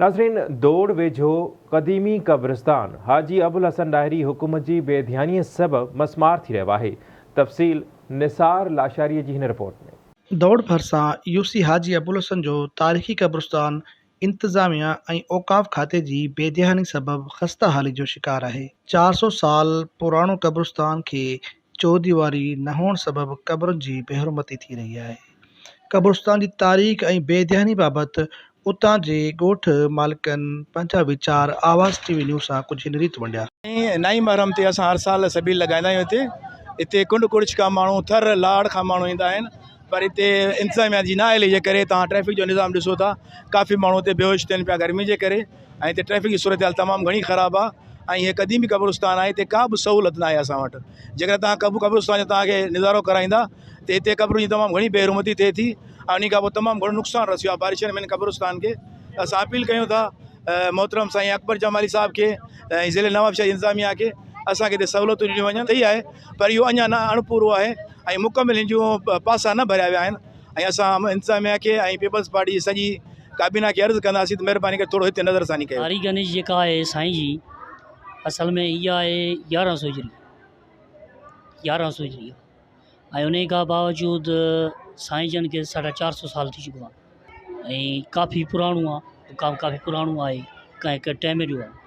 ناظرين دوڙ ويجهو قديمي قبرستان حاجي ابوالحسن ڏاهري حڪم جي بي ڌيانيء سبب مسمار ٿي رهيو آهي تفصيل نثار لاشاريء جي هن رپورٽ ۾. دوڙ ڀرسان يوسي حاجي ابوالحسن جو تاريخي قبرستان انتظاميه ۽ اوقاف کاتي جي بي ڌياني سبب خسته حالي جو شڪار آهي چار سو سال پراڻو قبرستان کي چوديواري نه هئڻ سبب قبرن جي بي حرمتي ٿي رهي آهي. قبرستان جي تاريخ ۽ بي ڌياني بابت اتان جي ڳوٺ مالڪن پنهنجا ويچار آواز ٽي وي نيوز سان ڪجهه هن ريت ونڊيا. نائين محرم تي اسان هر سال سبيل لڳائيندا آهيون هتي هتي ڪنڊ ڪڙڇ کان ماڻهو ٿر لاڙ کان ماڻهو ايندا آهن پر هتي انتظاميا جي نااهلي جي ڪري تان ٽريفڪ جو نظام ڏسو ٿا ڪافي ماڻهو هتي بيهوش ٿين پيا گرمي جي ڪري ۽ هتي ٽريفڪ جي صورتحال تمام گهڻي خراب آهي ۽ هي قديمي قبرستان آهي هتي ڪا به سهولت ناهي اسان وٽ جيڪڏهن تهان قبو قبرستان جو تهان کي نظارو ڪرائيندا ته هتي قبرن جي تمام گهڻي بي حرمتي ٿئي ٿي ۽ ان کان پوء تمام گهڻو نقصان رسيو آهي بارشن ۾ قبرستان کي اسان اپيل ڪيون ٿا محترم سائين اڪبر جمالي صاحب کي ۽ ضلع نواب شاهي انتظاميه کي اسانکي هتي سهولتون ڏنيون وڃن ٿي آهي پر اهو اڃا نه اڻپورو آهي ۽ مڪمل هن جون پاسا نه ڀريا ويا آهن ۽ اسان انتظاميا کي ۽ پيپلز پارٽي جي سڄي ڪابينا کي عرض ڪنداسين ته مھرباني ڪري ٿورو ھتي نظر ثاني ڪيو. ھاري گنيش جيڪا آھي سائين جي اصل ۾ اھا آھي يارھن سو ھجري يارھن سو ھجري ۽ انھي کان باوجود سائين جن کي ساڍا چار سو سال ٿي چڪو آھي ۽ ڪافي پراڻو آھي ڪافي پراڻو آھي ڪنھن ڪنھن ٽيم جو آھي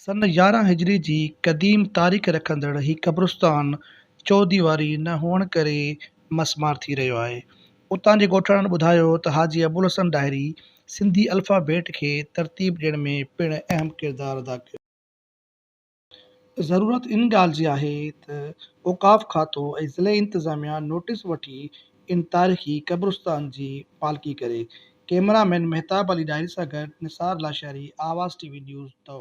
سن يارهن هجري جي قديم تاريخ رکندڙ هي قبرستان چوديواري نه هئڻ ڪري مس مار ٿي رهيو آهي. اتان جي ڳوٺاڻن ٻڌايو ته حاجي ابوالحسن ڏاهري سنڌي الفا بيٽ کي ترتيب ڏيڻ ۾ پڻ اهم ڪردار ادا ڪيو. ضرورت ان ڳالهه جي آهي ته اوقاف کاتو ۽ ضلعي انتظاميا نوٽيس وٺي ان تاريخي قبرستان جي پالڪي ڪري. ڪئميرا مين مهتاب علي ڏاهري سان گڏ Nisar Lashari Awaz T V news door.